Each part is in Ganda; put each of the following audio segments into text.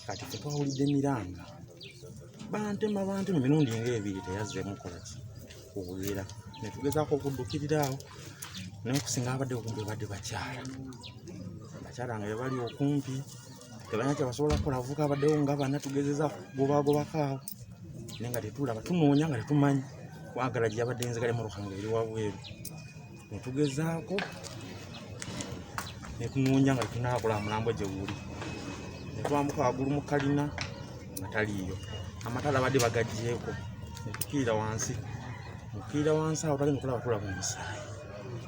kati fe twawulidde emiranga bantema bantema emirundi nga ebiri teyazzeemu kola ki kuwulira ne tugezaako okuddukirira awo naye okusinga abadde okumpi badde bakyala bakyala nga bebali okumpi tebalina kyebasobola kukola avuka abaddewo nga bana tugezeza gobagobako awo naye nga tetulaba tunoonya nga tetumanyi kwagala gyeyabadde enzigale mu ruhanga eri wabweru ne tugezaako ne tunoonya nga tunaabula mulambo gye guli ne twambuka waggulu mu kalina nga taliiyo amatala abadde bagagyeko ne tukiira wansi mukiira wansi awo tagenda okulaba tulaba omusaayi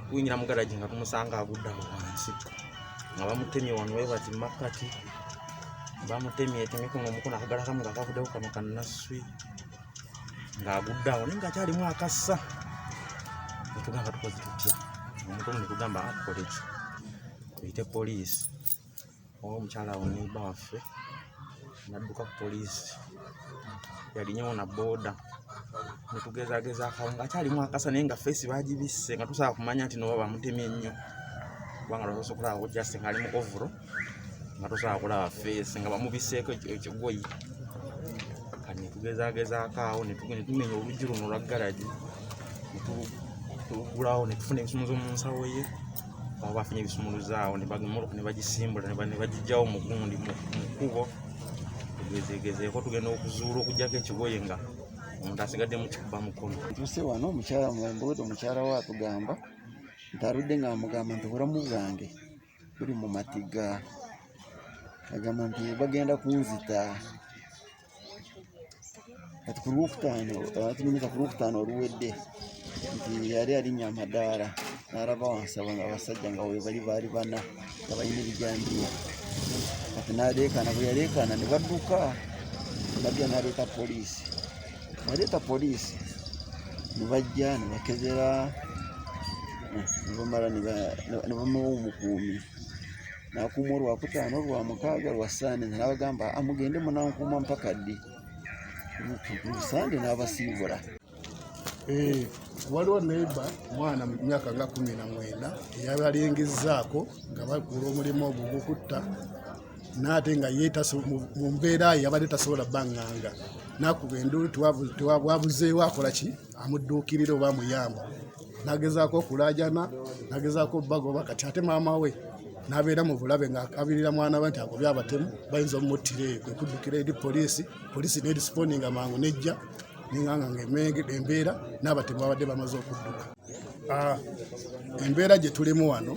kuyingira mugalagi nga tumusanga agudde awo wansi nga bamutemye wano webati makkati bamutemye etemye kuno omukono akagala kamu nga kavuddeko kano kannasswi ng'agudde awo naye ng'akyalimu akassa netugamba tukoze tutya omuntu omu netugamba akole ki tuyite poliisi oba omukyala awo neiba waffe nadduka ku poliisi yalinyewo na booda netugezageza akawo ng'akyalimu akasa naye nga feesi bagibisse nga tusobola kumanya nti noba bamutemye nnyo kubanga lwasobola okulaba just ng'ali mu ovuro nga tosobola kulaba feesi nga bamubiseeko ekigoyi kati netugezagezaako awo netumenya oluggi luno olwa garagi netugulawo netufuna ebisumuzo mu nsawo ye awo bafunye ebisumuluzo awo nebagisimbula nebagijjawo mugundi mu kkubo tugezegezeeko tugenda okuzuula okugyako ekigoye nga omuntu asigadde mukikuba mukono tuse wano omukyala mwembuuti omukyala we atugamba nti aludde nga amugamba nti obulamu bwange tuli mu matiga agamba nti bagenda kunzita kati ku lwokutaano tunyumiza ku lwokutaano oluwedde nti yali alinya amadaala n'alaba wansaba nga abasajja nga webali baali bana nga balina ebijambiya kati naleekaana bwe yaleekaana ne badduka nabya naleeta poliisi Waleta polisi nebajja nebakebera nebamala nebamuwa omukuumi nakuuma olwakutaano olwamukaaga lwa sande nabagamba amugende munankuuma mpaka ddi sande nabasiibula Eh, waliwo neiba mwana mu myaka nga kumi na mwenda eyabalingizzaako nga bakuula omulimu ogwo gukutta naate nga ye mu mbeera ye yabadde tasobola banganga nakuba enduulu tewabwabuzeewo akola ki amudduukirira oba amuyamba nagezaako okulaajana nagezaako bagoba kati ate maama we nabeera mu bulabe ngaakabirira mwana we nti agobye abatemu bayinza omumuttira eyo kwe kuddukira eri poliisi poliisi nerespondinga mangu nejja nenganga nga embeera n'abatemu babadde bamaze okudduka Ah, embeera gye tulimu wano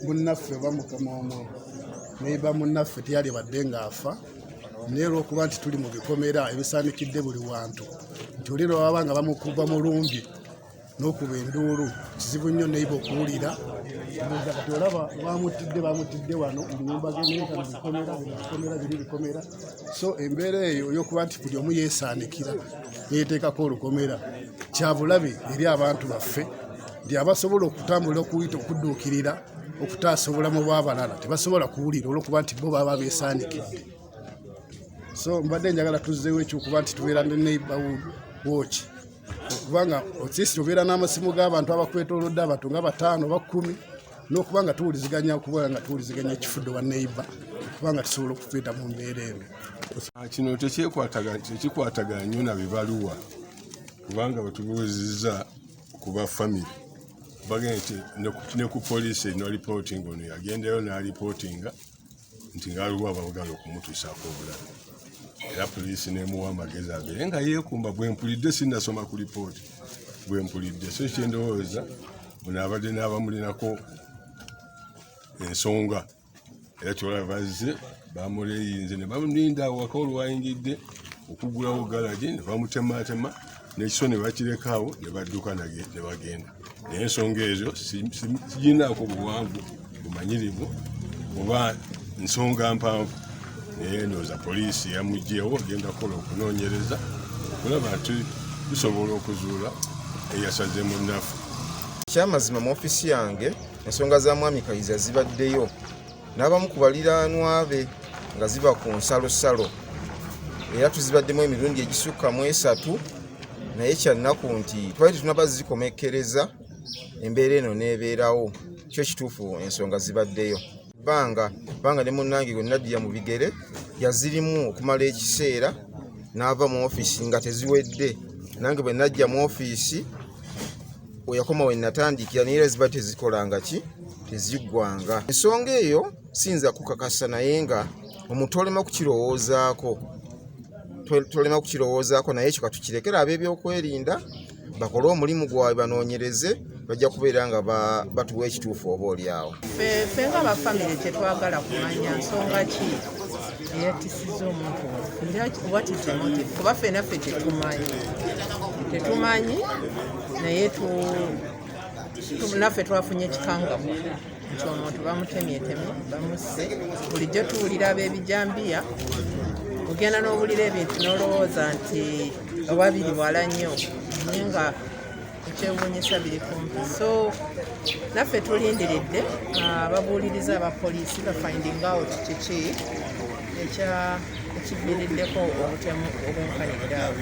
munnaffe oba mukama omu neba munnaffe teyali badde ng'afa naye olwokuba nti tuli mu bikomera ebisaanikidde buli wantu nti oli lwe baba nga bamukuba mulumbi n'okuba enduulu kizibu nnyo neiba okuwulira kati olaba bamutidde bamutidde wano munyumba geneekana bikomera bikomera biri bikomera so embeera eyo yokuba nti buli omu yeesaanikira neyeteekako olukomera kyabulabe eri abantu baffe nti abasobola okutambulira okuyita okudduukirira okutaasa obulamu bw'abalala tebasobola kuwulira olwokuba nti bo baba beesaanikidde so mbadde njagala tuzzeewo ekyokuba nti tubeera ne neighborhood watch okuba nga okyesi obeera n'amasimu g'abantu abakwetolodde abantu nga bataano bakumi n'okuba nga tuwuliziganya okuba nga tuwuliziganya ekifudde wa neiba okuba nga tusobola okufeeta mu mbeera eno ah, kino tekyekwatagana nnyo na bibaluwa kubanga batubuuzizza ku ba famiry bagende ne ku poliisi eno alipootinga ono yagendayo n'alipootinga nti ngaliwo abagala okumutuusaako obulabe era poliisi nemuwa amagezi agere nga yeekumba bwempulidde sinasoma ku lipooti bwempulidde so kyendowooza buno abadde n'abamulinako ensonga era kyolaba bazze bamuleyinze ne bamulinda awaka olwayingidde okugulawo galagi ne bamutematema n'ekiso ne bakirekawo ne badduka ne bagenda naye ensonga ezo siginaako buwanvu bumanyirivu oba nsonga mpanvu naye ndowooza poliisi yamugyewo ogenda kukola okunoonyereza okulaba nti tusobola okuzuula eyasaze mu nnafu kyamazima mu ofiisi yange ensonga za mwami kayiza zibaddeyo n'abamu ku baliraanwa be nga ziba ku nsalosalo era tuzibaddemu emirundi egisukka mu esatu naye kyannaku nti twali tetunaba zikomekkereza embeera eno n'ebeerawo kyo kituufu ensonga zibaddeyo banga banga ne munnange gwe nadiya mu bigere yazirimu okumala ekiseera n'ava mu ofiisi nga teziwedde nange bwe najja mu ofiisi weyakoma wenatandikira naye era ziba tezikolanga ki teziggwanga ensonga eyo siyinza kukakasa naye nga omuntu olema kukirowoozaako tolema kukirowoozaako naye ekyo katukirekera ab'ebyokwerinda bakole omulimu gwabwe banoonyereze bajja kubeera nga batuwa ekituufu oba olyawo fe nga bafamire kyetwagala kumanya nsonga ki eyatisiza omuntu waffe kuba fenaffe tetumanyi tetumanyi naye naffe twafunye ekikangamu nti omuntu bamutemyetemye bamusse bulijjo tuwulira ab'ebijambiya ogenda n'owulira ebintu n'olowooza nti oba biri wala nnyo naye nga ekyewuunyisa biri kumpi so naffe tulindiridde ah, ababuuliriza aba poliisi bafinding out kiki ekya ekiviiriddeko obutemu obunkanidde awo